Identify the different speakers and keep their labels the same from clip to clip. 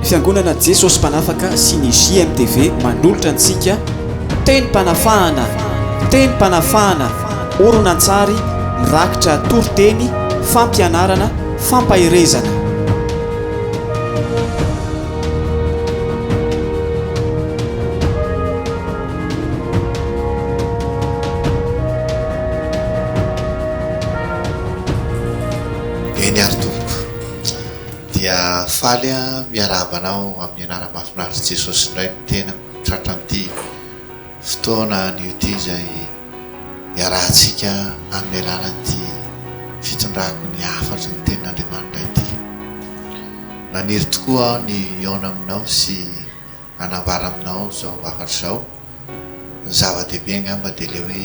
Speaker 1: Fiangonana Jesosy Mpanafaka sy ny JMTV manolotra antsika Tenim-panafahana, Tenim-panafahana, horonantsary mirakitra toriteny, fampianarana, fampaherezana.
Speaker 2: Dia faly aho miarahaba anao amin'ny anarany mahafinaritry Jesosy indray ny tenako tratran'ity fotoana anio ity izay iarahantsika amin'ny alalan'ity fitondrako ny hafatry ny tenin'Andriamanitra ity. Naniry tokoa aho ny hihaona aminao sy hanambara aminao izao hafatra izao. Ny zava-dehibe angamba dia ilay hoe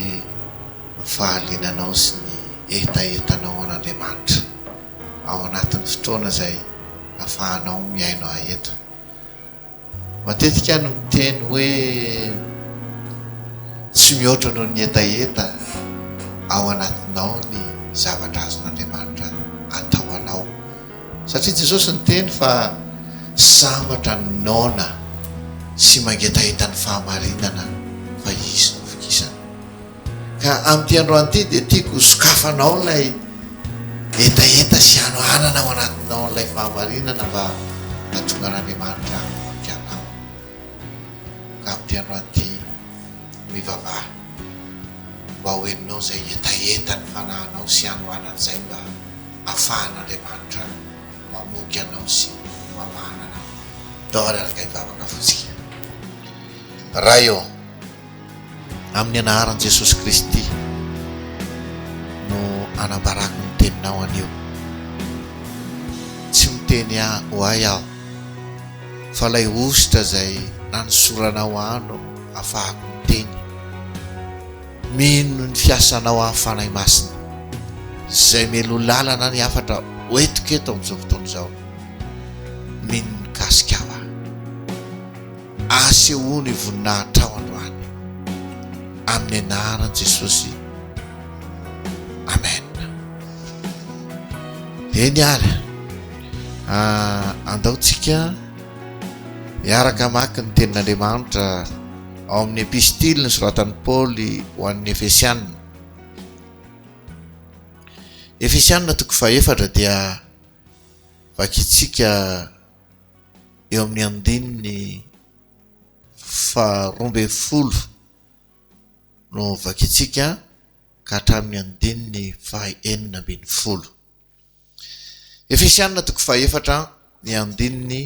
Speaker 2: ny fahaliananao sy ny hetahetanao an'Andriamanitra. ao anatin'ny fotoana izay afahanao mihaino ahy eto. Matetika aho no miteny hoe tsy mihoatra noho ny hetaheta ao anatinao ny zavatra azon'Andriamanitra atao anao. Satria Jesosy niteny fa sambatra ny noana sy mangetaheta ny fahamarinana fa Izy no vokisana. Ka amin'ity androany ity dia tiako ho sokafanao ilay hetaheta sy hanoanana ao anatinao ilay fahamarinana mba hahatongan'Andriamanitra hahavoky anao. Ka amin'ity androany ity mivavaha mba ho henonao izay hetahetan'ny fanahinao sy hanoanana izay mba hahafahan'Andriamanitra mamoky anao sy mamahana anao. Dore ary kay vavaka fotsika. Ray ô! Amin'ny anaharan'i Jesosy Kristy no anambarako ny teninao anio. Tsy miteny ahy ho ahy aho, fa ilay hosotra izay nanosoranao ahy no afahako miteny. Mino ny fiasanao aho Fanahy Masina, izay meloa lalana ny hafatra hoentiko eto amin'izao fotoana izao. Mino ny mikasika ahy. Asehoy ny voninahitrao androany amin'ny anaran'i Jesosy. Amen. Eny ary. Ah, andao tsika miaraka maka ny tenin'Andriamanitra ao amin'ny epistily ny soratan'i Paoly ho an'ny Efesianina. Efesianina toko fahefatra dia vakitsika eo amin'ny andininy faharoa ambin'ny folo no vakintsika ka hatramin'ny andininy fahaenina ambin'ny folo. Efesianina toko fahefatra ny andininy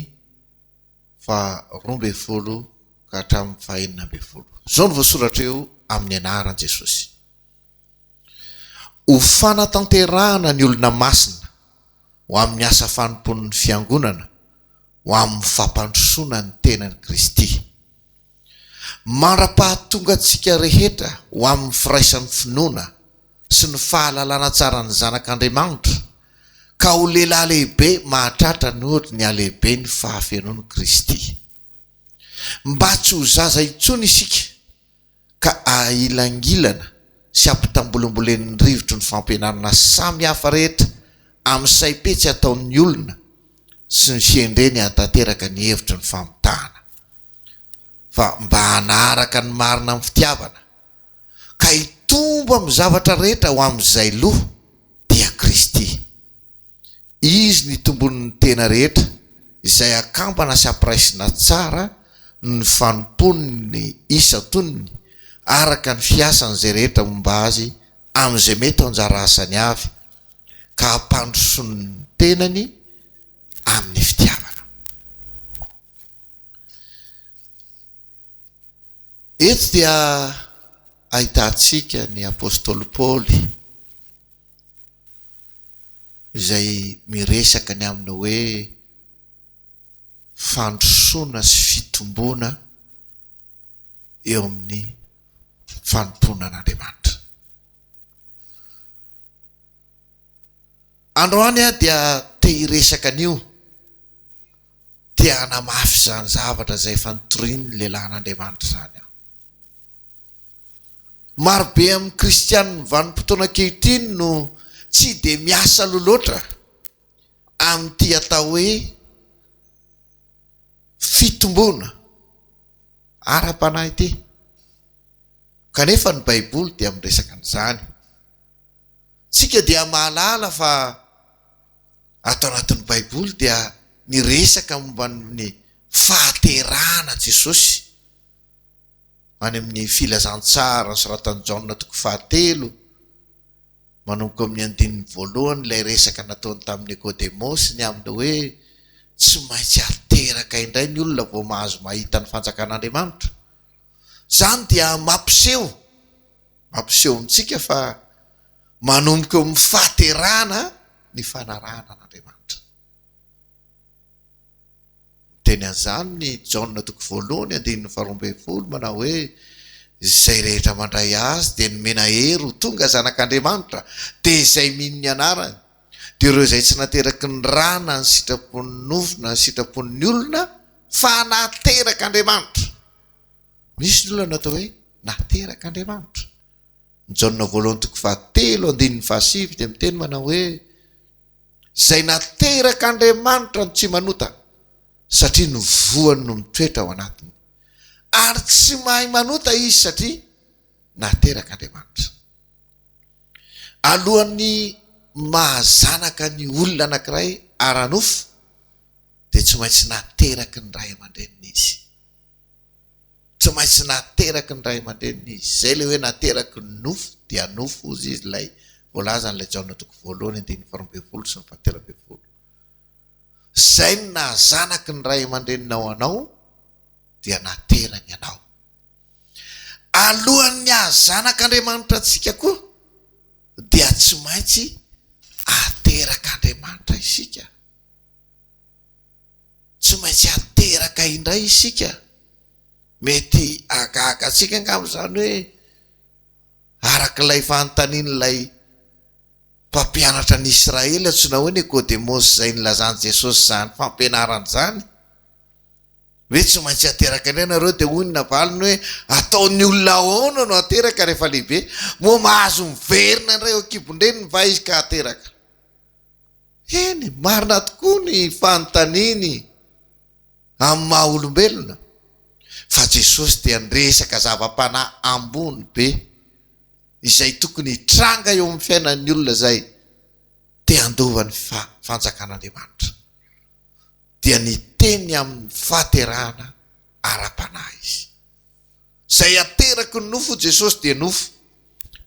Speaker 2: faharoa ambin'ny folo ka hatramin'ny fahaenina ambin'ny folo. Izao no voasoratra eo amin'ny anaran'i Jesosy. Ho fanatanterahana ny olona masina ho amin'ny asa fanompoan'ny Fiangonana ho amin'ny fampandrosoana ny tenan'i Kristy. Mandra-pahatonga antsika rehetra ho amin'ny firaisan'ny finoana sy ny fahalalana tsara ny Zanak'Andriamanitra ka ho lehilahy lehibe mahatratra ny ory ny halehiben'ny fahafenoan'i Kristy. Mba tsy ho zaza intsony isika. ka ahilangilana sy ampitambolimbolenin'ny rivotry ny fampianarana samy hafa rehetra amin'ny saim-petsy ataon'ny olona sy ny fihendreny hahatanteraka ny hevitry ny famitahana fa mba hanaraka ny marina amin'ny fitiavana ka hitombo amin'ny zavatra rehetra ho amin'izay loha dia Kristy. Izy ny tombonin'ny tena rehetra, izay akambana sy ampiraisina tsara ny fanompoan'ny isan-tonony araka ny fiasan'izay rehetra momba azy amin'izay mety ho anjara asany avy, ka hampandrosoany ny tenany amin'ny fitiavana. Eto dia ahitantsika ny apostoly Paoly. izay miresaka ny amin'ny hoe fandrosoana sy fitomboana eo amin'ny fanompoana an'Andriamanitra. Androany aho dia te hiresaka an'io, te hanamafy izany zavatra izay efa notorian'ny lehilahin'Andriamanitra izany aho. Marobe amin'ny Kristianin'ny vanim-potoana ankehitriny no tsy dia miasa loha loatra amin'ity atao hoe fitomboana ara-panahy ity, kanefa ny Baiboly dia miresaka an'izany. Isika dia mahalala fa ato anatin'ny Baiboly dia niresaka momba ny fahaterahana Jesosy. any amin'ny Filazantsara nosoratan'i Jaona toko fahatelo, manomboka amin'ny andininy voalohany ilay resaka nataony tamin'i Nikodemosy ny amin'ny hoe tsy maintsy ateraka indray ny olona vao mahazo mahita ny fanjakan'Andriamanitra. Izany dia mampiseho, mampiseho amintsika fa manomboka eo amin'ny fahaterahana ny fanarahana an'Andriamanitra. Miteny an'izany ny Jaona toko voalohany andininy faharoa ambin'ny folo manao hoe, Izay rehetra mandray Azy dia nomena hery ho tonga zanak'Andriamanitra, dia izay mino ny anarany. Dia ireo izay tsy nateraky ny ra na ny sitrapon'ny nofo na ny sitrapon'ny olona fa naterak'Andriamanitra. Misy ny olona natao hoe naterak'Andriamanitra. Ny Jaona voalohany toko fahatelo andininy fahasivy dia miteny manao hoe, izay naterak'Andriamanitra no tsy manota, satria ny voany no mitoetra ao anatiny. Ary tsy mahay manota izy satria naterak'Andriamanitra. Alohan'ny maha-zanaka ny olona anankiray ara-nofo, dia tsy maintsy nateraky ny ray aman-dreniny izy. Tsy maintsy nateraky ny ray aman-dreniny izy. Izay ilay hoe nateraky ny nofo dia nofo hozy izy ilay voalazan'ilay Jaona toko voalohany andininy faharoa ambin'ny folo sy ny fahatelo ambin'ny folo. Izay no naha-zanaky ny ray aman-dreninao anao dia naterany anao. Alohan'ny haha-zanak'Andriamanitra antsika koa dia tsy maintsy aterak'Andriamanitra isika. Tsy maintsy ateraka indray isika. Mety hahagaga antsika angamba izany hoe araka ilay fanontanian'ilay mpampianatra ny Israely antsoina hoe Nikodemosy izay nilazan'i Jesosy izany fampianarana izany hoe tsy maintsy ateraka indray ianareo dia hoy ny navaliny hoe ataon'ny olona ahoana no ateraka rehefa lehibe? Moa mahazo miverina indray eo an-kibon-dreniny va izy ka ateraka? Eny, marina tokoa ny fanontaniany amin'ny maha olombelona, fa Jesosy dia niresaka zava-panahy ambony be, izay tokony hitranga eo amin'ny fiainan'ny olona izay te handova ny Fanjakan'Andriamanitra. Dia niteny amin'ny fahaterahana ara-panahy Izy. Izay ateraky ny nofo Jesosy dia nofo,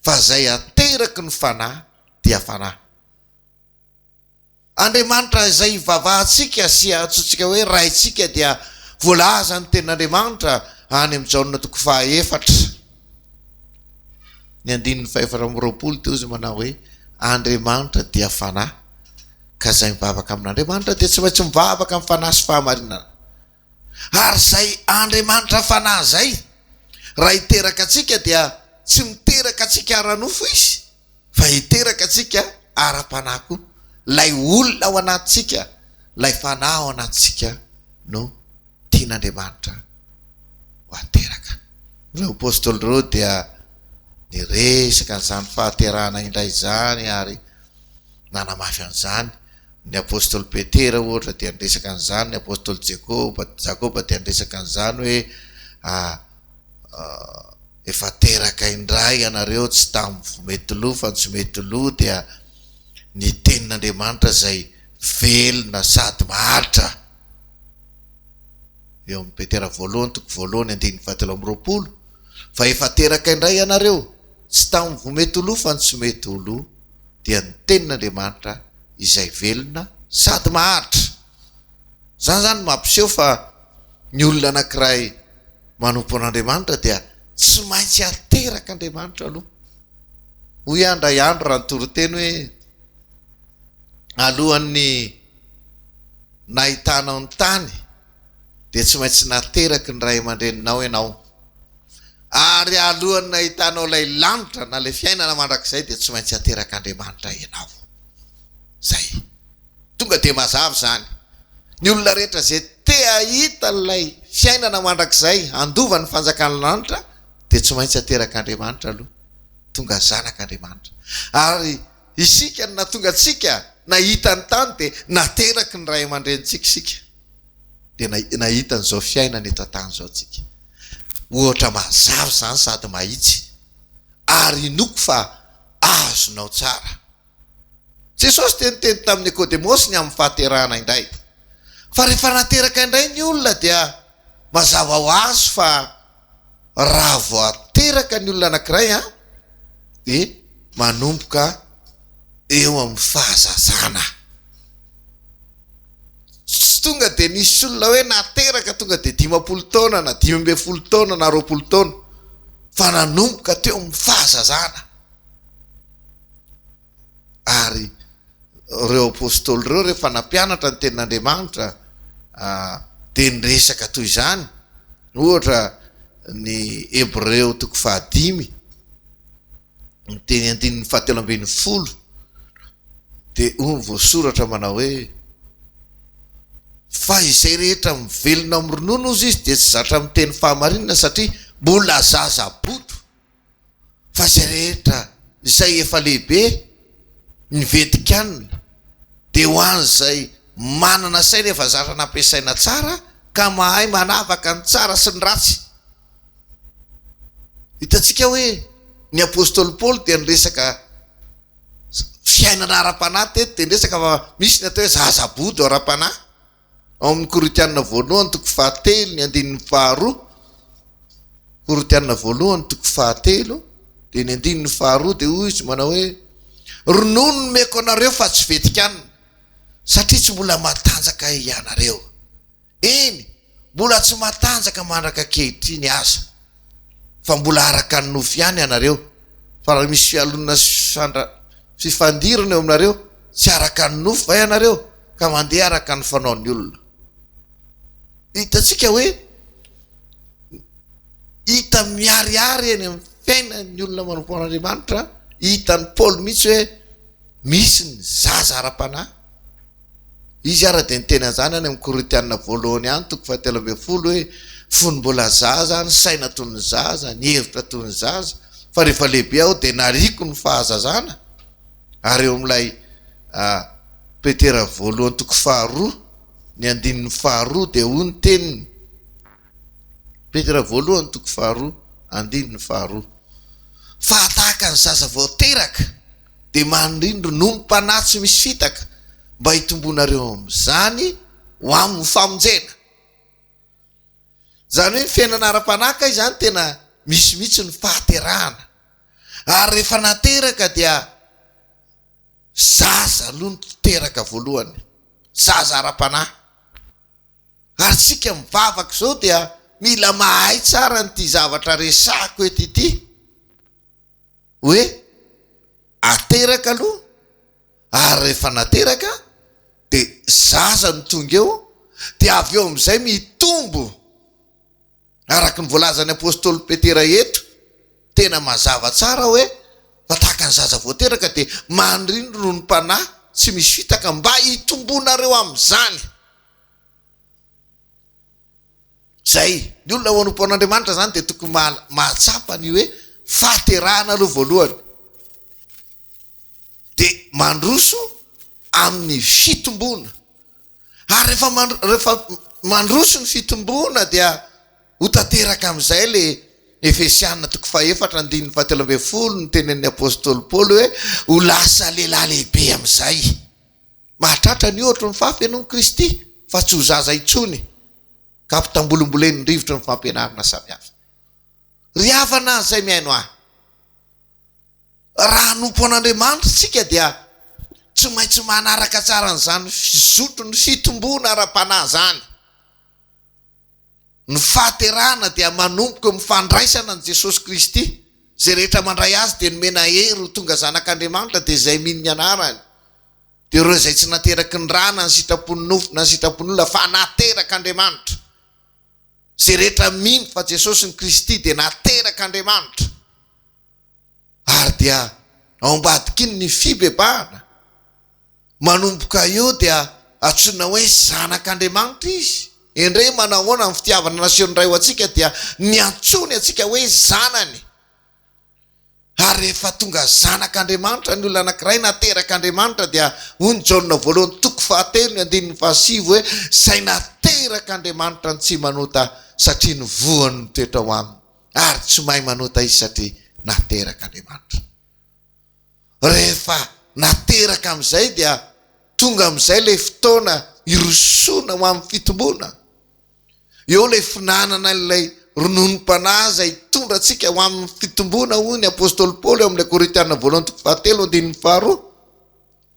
Speaker 2: fa izay ateraky ny Fanahy dia Fanahy. Andriamanitra izay ivavahantsika sy antsointsika hoe Raintsika dia voalazan' ny Tenin'Andriamanitra any amin'ny Jaona toko faha efatra ny andininy faha efatra amby roapolo teo izay manao hoe Andriamanitra dia Fanahy ka izay mivavaka amin' Andriamanitra dia tsy maintsy mivavaka amin'ny Fanahy sy Fahamarinana. Ary izay Andriamanitra Fanahy izay, raha hiteraka antsika dia tsy miteraka antsika ara-nofo Izy fa hiteraka antsika ara-panahy koa. Ilay olona ao anatintsika, ilay Fanahy ao anatintsika no tian'Andriamanitra ho ateraka. Ireo Apostoly ireo dia niresaka an'izany fahaterahana indray izany ary. nanamafy an'izany. Ny apostoly Petera ohatra dia niresaka an'izany, ny apostoly Jekoba, Jakoba dia niresaka an'izany hoe efa teraka indray ianareo tsy tamin'ny vomety loha fa ny somety loha dia ny tenin'Andriamanitra izay velona sady maharitra. Eo amin'ny Petera voalohany toko voalohany andininy fahatelo amby roapolo fa efa teraka indray ianareo tsy tamin'ny vomety loha fa ny somety loha. dia ny tenin'Andriamanitra izay velona sady maharitra. Izany izany no mampiseho fa ny olona anankiray manompo an'Andriamanitra dia tsy maintsy aterak'Andriamanitra aloha. Hoy aho indray andro raha nitoriteny hoe, Alohan'ny nahitanao ny tany dia tsy maintsy nateraky ny ray aman-dreninao ianao. Ary alohan'ny nahitanao ilay lanitra na ilay fiainana mandrakizay dia tsy maintsy aterak'Andriamanitra ianao. Izay. Tonga dia mazava izany. Ny olona rehetra izay te hahita ilay fiainana mandrakizay handova ny fanjakan'ny lanitra dia tsy maintsy aterak'Andriamanitra aloha. Tonga zanak'Andriamanitra. Ary isika no nahatonga antsika nahita ny tany dia nateraky ny ray aman-drenintsika isika. dia nahita an'izao fiainana eto an-tany izao tsika. Ohatra mazava izany sady mahitsy ary inoako fa azonao tsara. Jesosy dia niteny tamin'i Nikodemosy ny amin'ny fahaterahana indray. Fa rehefa nateraka indray ny olona dia mazava ho azy fa Raha vao ateraka ny olona anankiray an, dia manomboka eo amin'ny fahazazana. Tsy tonga dia nisy olona hoe nateraka tonga dia dimampolo taona na dimy ambin'ny folo taona na roapolo taona, fa nanomboka teo amin'ny fahazazana. Ary ireo apostoly ireo rehefa nampianatra ny tenin'Andriamanitra dia niresaka toy izany, ohatra ny Hebreo toko fahadimy, ny teny andininy fahatelo ambin'ny folo, dia hoy ny voasoratra manao hoe, Fa izay rehetra mivelona amin'ny ronono hozy izy dia tsy zatra miteny fahamarinana satria mbola zaza bodo. fa izay rehetra izay efa lehibe ny ventin-kanina dia ho an'izay manana saina efa zatra nampiasaina tsara ka mahay manavaka ny tsara sy ny ratsy. Hitantsika hoe ny apostoly Paoly dia niresaka fiainana ara-panahy teto dia niresaka fa misy ny atao hoe zaza bodo ara-panahy. Ao amin'ny Korintiana voalohany toko fahatelo ny andininy faharoa, Korintiana voalohany toko fahatelo dia ny andininy faharoa dia hoy izy manao hoe ronono no meko anareo fa tsy vetikanina satria tsy mbola matanjaka ianareo, eny mbola tsy matanjaka mandraka ankehitriny aza. fa mbola araka ny nofo ihany ianareo, fa raha misy fialonana sy fifandra, fifandirana eo aminareo, tsy araka ny nofo va ianareo ka mandeha araka ny fanaon'ny olona? Hitantsika hoe hita miharihary eny amin'ny fiainan'ny olona manompo an'Andriamanitra, hitan'i Paoly mihitsy hoe misy ny zaza ara-panahy. Izy ary dia niteny an'izany any amin'ny Korintiana voalohany any, toko fahatelo ambin'ny folo, hoe, Fony mbola zaza aho, nisaina toy ny zaza, nihevitra toy ny zaza, fa rehefa lehibe aho dia nariako ny fahazazana. Ary eo amin'ilay Petera voalohany toko faharoa, ny andininy faharoa, dia hoy ny teniny, Petera voalohany toko faharoa, andininy faharoa, Fahatahaka ny zaza vao teraka, dia manindrindro nonim-panahy tsy misy fitaka mba hitomboanareo amin'izany ho amin'ny famonjena. Izany hoe ny fiainana ara-panahy kay izany tena misy mihitsy ny fahaterahana. Ary rehefa nateraka dia zaza aloha no teraka voalohany, zaza ara-panahy. Ary isika mivavaka izao dia mila mahay tsara an'ity zavatra resahiko eto ity. hoe ateraka aloha ary rehefa nateraka dia zaza no tonga eo dia avy eo amin'izay mitombo araka ny voalazan'ny apostoly Petera eto tena mazava tsara hoe fa tahaka ny zaza voateraka dia manrindro noho ny mpanahy tsy misy fitaka mba hitombonareo amin'izany. Izay. Ny olona ao anompo an'Andriamanitra izany dia tokony mahatsapa ny hoe fahaterahana aloha voalohany. Dia mandroso amin'ny fitomboana. Ary rehefa rehefa mandroso ny fitomboana dia ho tanteraka amin'izay ilay Efesiana toko fahefatra andininy fahatelo ambin'ny folo, ny tenenin'ny apostoly Paoly hoe ho lasa lehilahy lehibe amin'izay. Mahatratra ny ohatry ny fafy ianao amin'i Kristy fa tsy ho zaza intsony ka ampitambolimbolenin'ny rivotry ny fampianarana samihafa. Ry havana izay mihaino ahy, raha hanompo an'Andriamanitra isika dia tsy maintsy manaraka tsara an'izany fizotron'ny fitomboana ara-panahy izany. Ny fahaterahana dia manomboka eo amin'ny fandraisana an'i Jesosy Kristy. Izay rehetra mandray Azy dia nomena hery ho tonga zanak'Andriamanitra dia izay mino ny anarany dia ireo izay tsy nateraky ny ra na ny sitrapon'ny nofo na ny sitrapon'olona fa naterak'Andriamanitra. Izay rehetra mino fa Jesosy ny Kristy dia naterak'Andriamanitra ary dia ao ambadikiny ny fibebahana. Manomboka eo dia antsoina hoe zanak'Andriamanitra izy. Endrey manahoana ny fitiavana nasehon'ny Ray ho antsika dia ny antsoiny antsika hoe zanany. Ary rehefa tonga zanak'Andriamanitra ny olona anankiray naterak'Andriamanitra dia hoy ny Jaona voalohany toko fahatelo ny andininy fahasivy hoe izay naterak'Andriamanitra no tsy manota satria ny voany mitoetra ao aminy ary tsy mahay manota izy satria naterak'Andriamanitra. Rehefa nateraka amin'izay dia tonga amin'izay ilay fotoana hirosoana ho amin'ny fitomboana. Eo ilay finanana ilay rononom-panahy izay hitondra antsika ho amin'ny fitomboana, hoy ny apostoly Paoly ao amin'ilay Korintiana voalohany toko fahatelo andininy faharoa.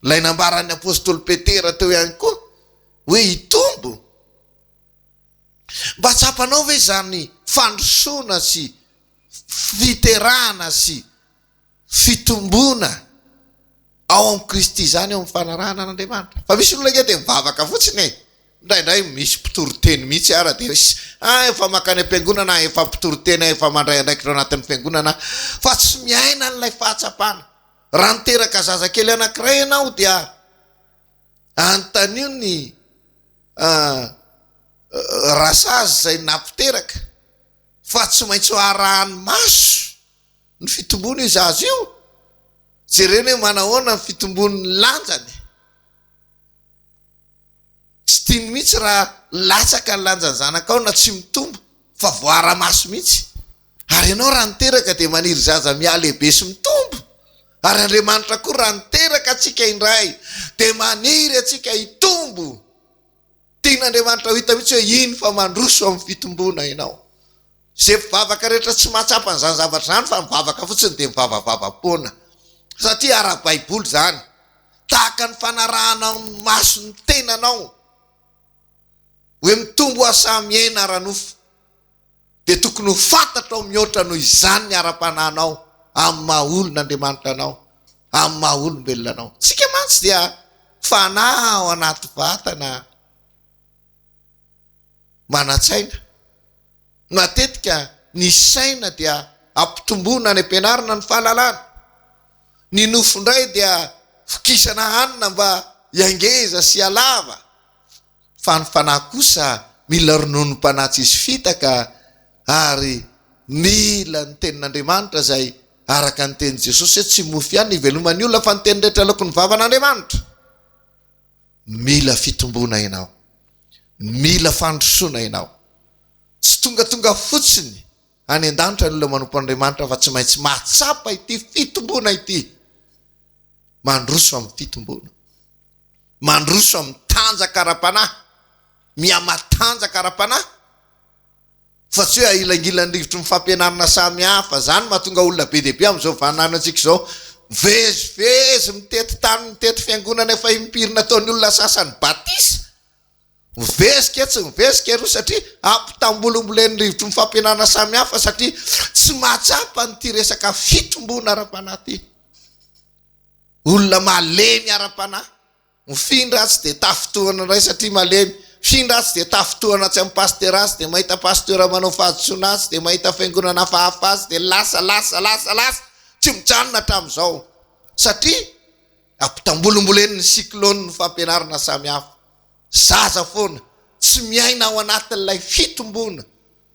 Speaker 2: Ilay nambaran'ny apostoly Petera teo ihany koa hoe hitombo. Mba tsapanao ve izany fandrosoana sy fiterahana sy fitomboana ao amin'i Kristy izany eo amin'ny fanarahana an'Andriamanitra. Fa misy olona ange dia mivavaka fotsiny e! Indraindray misy mpitory teny mihitsy ara dia hoe ah efa mankany am-piangonana aho, efa mpitory teny aho, efa mandray andraikitra ao anatin'ny fiangonana aho, fa tsy miaina an'ilay fahatsapana. Raha niteraka zazakely anankiray ianao dia anontanio ny rasazy izay nampiteraka fa tsy maintsy ho arahan'ny maso. Ny fitombon'io zaza io, jerena hoe manahoana ny fitombon'ny lanjany. Tsy tiany mihitsy raha latsaka ny lanjan'ny zanakao na tsy mitombo fa voaara-maso mihitsy. Ary ianao raha niteraka dia maniry zaza mihalehibe sy mitombo. Ary Andriamanitra koa raha niteraka antsika indray dia maniry antsika hitombo. Tian'Andriamanitra ho hita mihitsy hoe iny fa mandroso amin'ny fitomboana ianao. Izay mpivavaka rehetra tsy mahatsapa an'izany zavatra izany fa mivavaka fotsiny dia mivavavavam-poana. Satria ara-baiboly izany. Tahaka ny fanarahanao ny maso ny tenanao hoe mitombo aho sa miaina ara-nofo. dia tokony ho fantatrao mihoatra noho izany ny ara-panahinao amin'ny maha olon' Andriamanitra anao, amin'ny maha olombelona anao. Isika mantsy dia fanahy ao anaty vatana manan-tsaina. Matetika ny saina dia ampitomboina any am-pianarana ny fahalalana. Ny nofo indray dia vokisana hanina mba hiangeza sy halava. fa ny fanahy kosa mila rononom-panahy tsisy fitaka ary mila ny tenin'Andriamanitra izay araka ny tenin'i Jesosy hoe tsy mofo ihany no hiveloman'ny olona fa ny teny rehetra aloakon'ny vavan'Andriamanitra. Mila fitomboana ianao. Mila fandrosoana ianao. Tsy tongatonga fotsiny any an-danitra ny olona manompo an'Andriamanitra fa tsy maintsy mahatsapa ity fitomboana ity. Mandroso amin'ny fitomboana. mandroso amin'ny tanjaka ara-panahy, mihamatanjaka ara-panahy, fa tsy hoe ahilangilan'ny rivotry ny fampianarana samihafa. Izany no mahatonga olona be dia be amin'izao vaninandrontsika izao mivezivezy mitety tany, mitety fiangonana efa impiry nataon'ny olona sasany batisa, mivezika etsy mivezika eroa satria ampitambolimbolen'ny rivotry ny fampianarana samihafa satria tsy mahatsapa an'ity resaka fitomboana ara-panahy ity. Olona malemy ara-panahy. Mifindra atsy dia tafintohina indray satria malemy. Mifindra atsy dia tafintohina atsy amin'ny pasitera atsy dia mahita pasitera manao fahadisoana atsy dia mahita fiangonana hafahafa atsy dia lasa lasa lasa lasa tsy mijanona hatramin'izao satria ampitambolimbolenin'ny cyclone ny fampianarana samihafa. Zaza foana tsy miaina ao anatin'ilay fitomboana,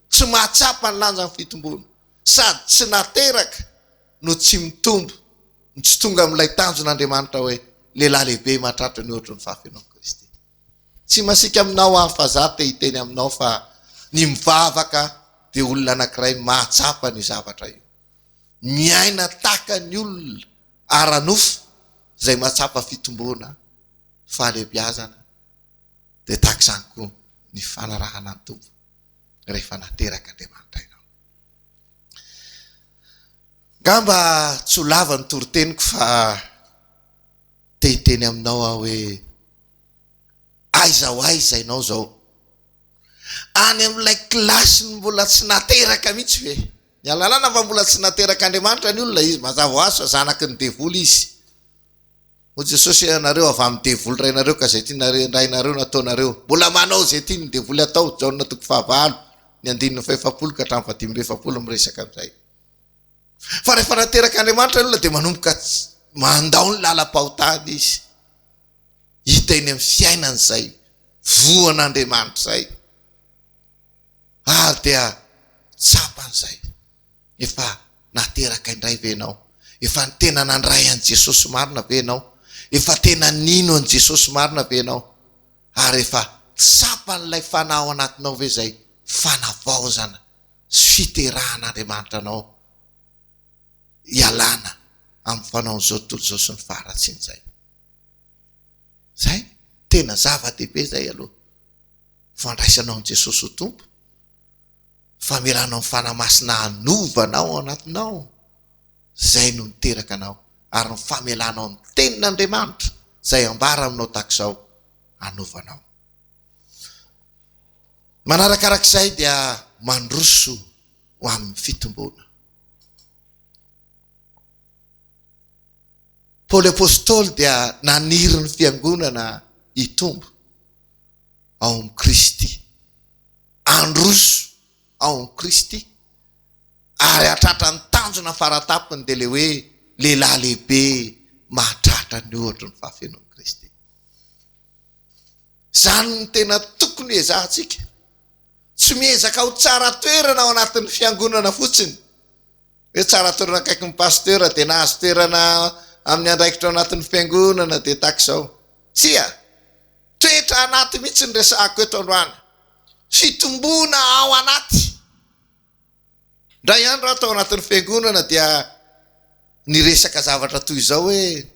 Speaker 2: tsy mahatsapa ny lanjan'ny fitomboana. sady tsy nateraka no tsy mitombo no tsy tonga amin'ilay tanjon' Andriamanitra hoe lehilahy lehibe mahatratra ny ohatry ny fahafenoan'i Kristy. Tsy masiaka aminao aho fa za te hiteny aminao fa ny mivavaka dia olona anankiray mahatsapa an'io zavatra io. Miaina tahaka ny olona ara-nofo izay mahatsapa fitomboana, fahalehibiazana dia tahaka izany koa ny fanarahana ny Tompo. rehefa nateraka Andriamanitra ianao. Angamba tsy ho lava ny toriteniko fa te hiteny aminao aho hoe aiza ho aiza ianao izao? Any amin'ilay kilasy ny mbola tsy nateraka mihitsy ve? Ny alalana fa mbola tsy naterak'Andriamanitra ny olona izy mazava ho azy fa zanaky ny devoly izy. Hoy Jesosy, Ianareo avy amin'ny devoly rainareo ka izay tiana rendrainareo no ataonareo. Mbola manao izay tiany ny devoly atao, Jaona toko fahavalo, ny andininy fahefapolo ka hatramin'ny fahadimy amby efapolo miresaka an'izay. Fa rehefa nateraka Andriamanitra ny olona dia manomboka mandao ny lalam-pahotany izy. Hita eny amin'ny fiainany izay voan'Andriamanitra izay. Ary dia tsapany izay. Efa nateraka indray ve ianao? Efa tena nandray an'i Jesosy marina ve ianao? Efa tena nino an'i Jesosy marina ve ianao? Ary efa tsapan'ilay Fanahy ao anatinao ve izay fanavaozana sy fiterahan'Andriamanitra anao hialana amin'ny fanaon'izao tontolo izao sy ny faharatsian'izay? Izay, tena zava-dehibe izay aloha, fandraisanao an'i Jesosy ho Tompo. Famerana ny Fanahy Masina hanova anao ao anatinao, izay no niteraka anao, ary ny famelanao ny tenin' Andriamanitra, izay ambara aminao tahaka izao, hanova anao. Manarakaraka izay dia mandroso ho amin'ny fitomboana. Paoly Apostoly dia naniry ny Fiangonana hitombo. ao amin'i Kristy. Handroso ao amin'i Kristy. Ary hahatratra ny tanjona fara-tampony dia ilay hoe lehilahy lehibe mahatratra ny ohatry ny fahafenoan'i Kristy. Izany no tena tokony ezahantsika. Tsy miezaka ho tsara toerana ao anatin'ny fiangonana fotsiny. Hoe tsara toerana akaikin'ny pasteur dia nahazo toerana amin'ny andraikitra ao anatin'ny fiangonana dia tahaka izao. Tsia. Toetra anaty mihitsy ny resahako eto androany. Fitomboana ao anaty. Indray andro aho tao anatin'ny fiangonana dia niresaka zavatra toy izao hoe,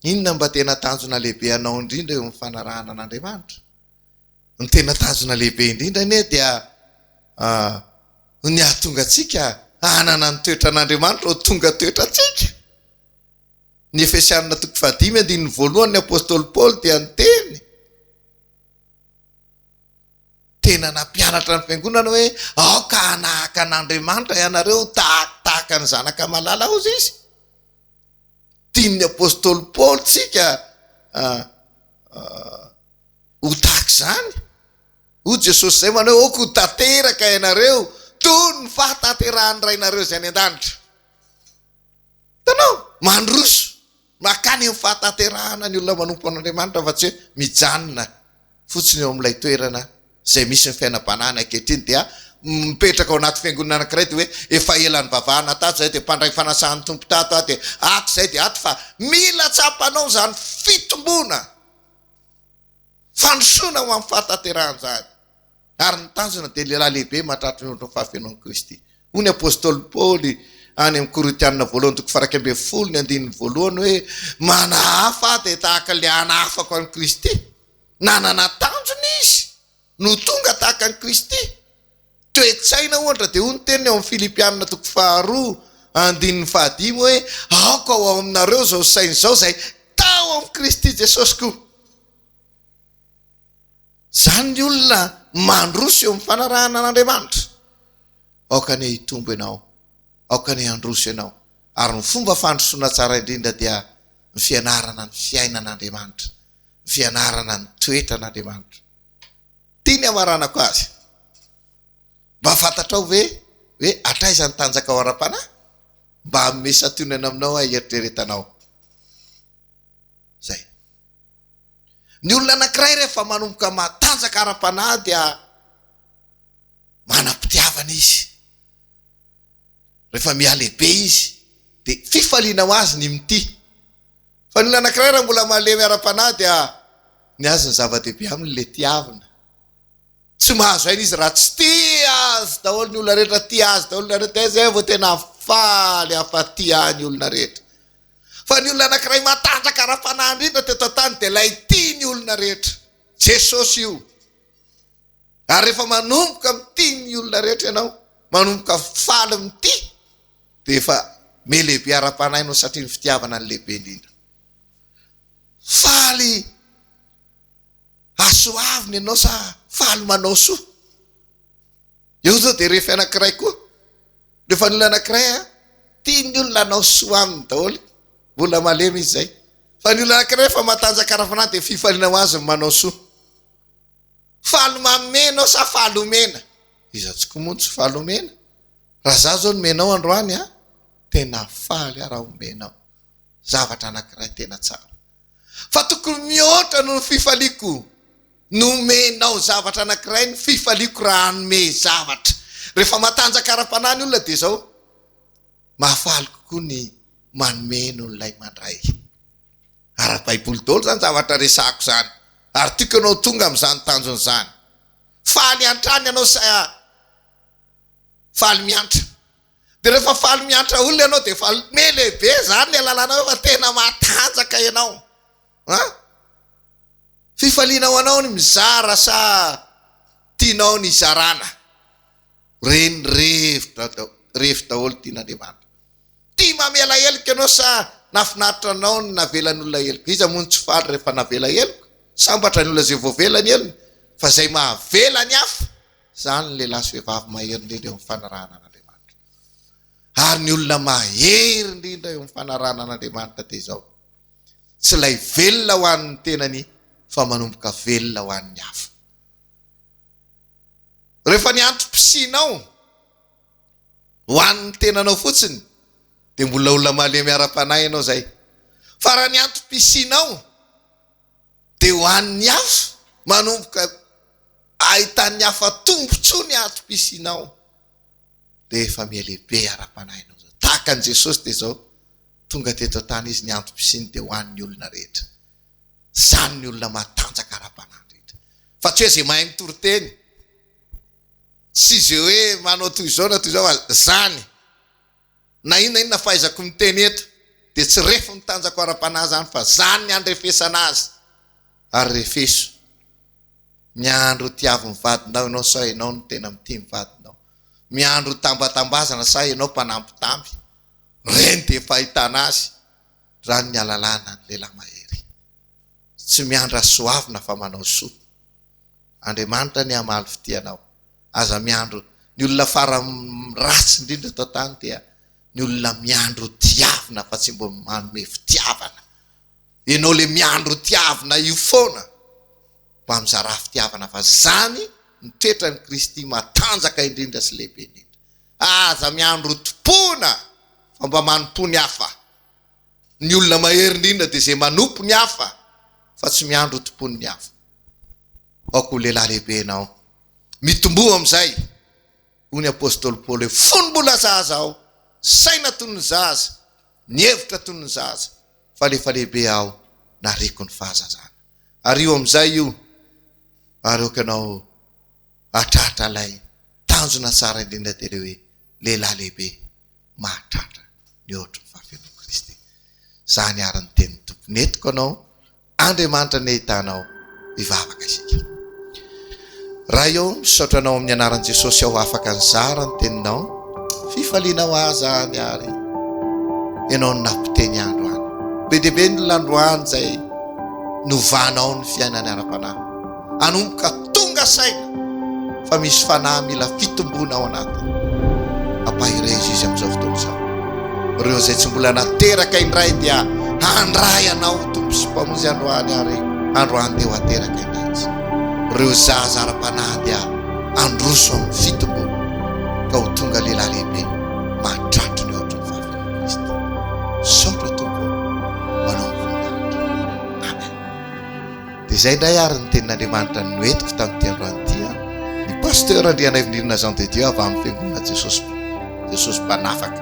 Speaker 2: Inona mba tena tanjona lehibe anao indrindra eo amin'ny fanarahana an'Andriamanitra? Ny tena tanjona lehibe indrindra anie dia ny hahatonga antsika hanana ny toetran'Andriamanitra ho tonga toetrantsika. Ny Efesiana toko fahadimy andininy voalohany ny apostoly Paoly dia niteny tena nampianatra ny fiangonana hoe aoka hanahaka an'Andriamanitra ianareo tahaka tahaka ny zanaka malala aozy izy. Tian'ny apostoly Paoly tsika ah, ah, ho tahaka izany. Hoy Jesosy izay manao hoe oko tanteraka ianareo toy ny fahatanterahan'ny rainareo izay any an-danitra. Hitanao? Mandroso mankany amin'ny fahatanterahana ny olona manompo an'Andriamanitra fa tsy hoe mijanona fotsiny eo amin'ilay toerana izay misy ny fiainam-panahiny ankehitriny dia mipetraka ao anaty fiangonana anankiray dia hoe efa ela nivavahana tato izay dia mpandray fanasahan'ny Tompo tato aho dia ato izay dia ato fa mila tsapanao izany fitomboana fandrosoana ho amin'ny fahatanterahan'izany. ary ny tanjona dia lehilahy lehibe mahatratra ny ondrin'ny fahafenoan'i Kristy. Hoy ny apostoly Paoly any amin'ny Korintianina voalohany toko faha iraika ambin'ny folo ny andininy voalohany hoe, Manahafa aho dia tahaka ilay hanahafako an'i Kristy. Nanana tanjona izy no tonga tahaka an'i Kristy. Toe-tsaina ohatra dia hoy ny teniny ao amin'ny Filipianina toko faha roa andininy faha dimy hoe, Aoka ho ao aminareo izao saina izao izay tao amin'i Kristy Jesosy koa. Izany ny olona mandroso eo amin'ny fanarahana an'Andriamanitra. Aoka anie hitombo ianao, aoka anie handroso ianao. Ary ny fomba fandrosoana tsara indrindra dia ny fianarana ny fiainan'Andriamanitra, ny fianarana ny toetran'Andriamanitra. Ity ny hamaranako azy, Mba fantatrao ve hoe hatraiza ny tanjakao ara-panahy? Mba hanome santionana aminao aho hieritreretanao izay. Ny olona anankiray rehefa manomboka matanjaka ara-panahy dia manam-pitiavana izy. Rehefa mihalehibe izy dia fifaliana ho azy ny mitia. Fa ny olona anankiray raha mbola malemy ara-panahy dia ny azy ny zava-dehibe aminy ilay tiavina. Tsy mahazo aina izy raha tsy tia azy daholo ny olona rehetra, tia azy daholo ny olona rehetra dia izay vao tena faly hafa tia ahy ny olona rehetra. Fa ny olona anankiray matanjaka ara-panahy indrindra teto an-tany dia ilay tia ny olona rehetra. Jesosy io. Ary rehefa manomboka mitia ny olona rehetra ianao, manomboka faly mitia, dia efa me lehibe ara-panahy ianao satria ny fitiavana no lehibe indrindra. Faly hasoavina ianao sa faly manao soa? Eo izao dia rehefa anankiray koa Ny vanin'olona anankiray a, tia ny olona hanao soa aminy daholo, olona malemy izy izay. Fa ny olona anankiray rehefa matanjaka ara-panahy dia fifaliana ho azy ny manao soa. Faly manome ianao sa faly omena? Iza tokoa moa no tsy faly omena? Raha izaho izao nomena anao androany a, tena faly aho raha omena aho zavatra anankiray tena tsara. Fa tokony mihoatra noho ny fifaliako. Nomenao zavatra anankiray ny fifaliako raha hanome zavatra. Rehefa matanjaka ara-panahy ny olona dia izao, mahafaly kokoa ny manome noho ilay mandray. Ara-baiboly daholo izany zavatra resahako izany ary tiako ianao ho tonga amin'izany tanjona izany. Faly hatrany ianao sa faly miantra? Dia rehefa faly miantra olona ianao dia efa me lehibe izany ilay lalànao efa tena matanjaka ianao. An! Fifaliana ho anao ny mizara sa tianao ny hizarana? Reny revitra revy daholo tian'Andriamanitra. Tia mamela heloka ianao sa nahafinaritra anao ny navelan'olona heloka? Iza moa no tsy faly rehefa navela heloka? Sambatra ny olona izay voavela ny helony fa izay mahavela ny hafa, izany ny lehilahy sy vehivavy mahery indrindra eo amin'ny fanarahana an'Andriamanitra. Ary ny olona mahery indrindra eo amin'ny fanarahana an'Andriamanitra dia izao. Tsy ilay velona ho an'ny tenany fa manomboka velona ho an'ny hafa. Rehefa ny antom-pisianao ho an'ny tenanao fotsiny dia mbola olona malemy ara-panahy ianao izay. Fa raha ny antom-pisianao dia ho an'ny hafa, manomboka ahitan'ny hafa tombontsoa ny antom-pisianao, rehefa mihalehibe ara-panahinao zao. Tahaka an'i Jesosy dia izao, tonga teto an-tany Izy, ny antom-pisiany dia ho an'ny olona rehetra. Izany ny olona matanjaka ara-panahy rehetra. Fa tsy hoe izay mahay mitory teny, sy izay hoe manao toy izao na toy izao, izany. Na inona inona fahaizako miteny eto dia tsy ref ny tanjako ara-panahy izany fa izany ny handrefesana azy ary refeso miandry ho tiavin'ny vadinao ianao sao ianao no tena mitia ny vadinao miandry ho tambatambazana sao ianao mpanambitamby ireny dia efa ahitana azy izany ny alalana ny lehilahy mahery tsy miandry hasoavina fa manao soa Andriamanitra anie hamaly fitia anao Aza miandry Ny olona farany ratsy indrindra eto an-tany dia ny olona miandry ho tiavina fa tsy mba manome fitiavana. Ianao ilay miandry ho tiavina io foana mba mizarà fitiavana fa izany no toetran'i Kristy matanjaka indrindra sy lehibe indrindra. Aza miandry ho tompoina fa mba manompoa ny hafa. Ny olona mahery indrindra dia izay manompo ny hafa fa tsy miandry hotompoin'ny hafa. Aoka ho lehilahy lehibe ianao. Mitomboa amin'izay. Hoy ny apostoly Paoly hoe, Fony mbola zaza aho, saina toy ny zaza, ny hevitra toy ny zaza, fa rehefa lehibe aho, nariako ny fahazazana. Ariho amin'izay io, ary aoka ianao hahatratra ilay tanjona tsara indrindra dia ilay hoe lehilahy lehibe mahatratra ny ohatry ny fahavelon'i Kristy. Izany àry ny tenin'ny Tompo. Nentiko anao, Andriamanitra nahitana aho, hivavaka isika. Ray ô, misaotra Anao amin'ny anaran'i Jesosy aho afaka nizara ny Teninao. Fifaliana ho ahy izany àry. Ianao no nampiteny ahy androany. Be dia be ny lalao androany izay novanao ny fiainany ara-panahy. hanomboka tonga saina fa misy fanahy mila fitomboana ao anatiny. Hampahereza Izy amin'izao fotoana izao. Ireo izay tsy mbola nateraka indray dia handray anao ho Tompo sy Mpamonjy androany ary androany dia ho ateraka indray Izy. Ireo zaza ara-panahy dia handroso amin'ny fitomboana ka ho tonga lehilahy lehibe mahatratry ny ohatry ny fahafinan'i Kristy. Misaotra Tompo o, ho anao ny voninahitra. Amen. Dia izay indray ary ny tenin'Andriamanitra no nentiko tamin'ity androany ity an! Ny Pasteur Andrianaivinirina Jean de Dieu avy amin'ny Fiangonana Jesosy Jesosy Mpanafaka.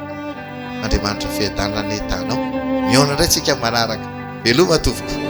Speaker 2: Andriamanitra Fiadanana anie tanao. Mihaona indray tsika amin'ny manaraka. Veloma tompoko.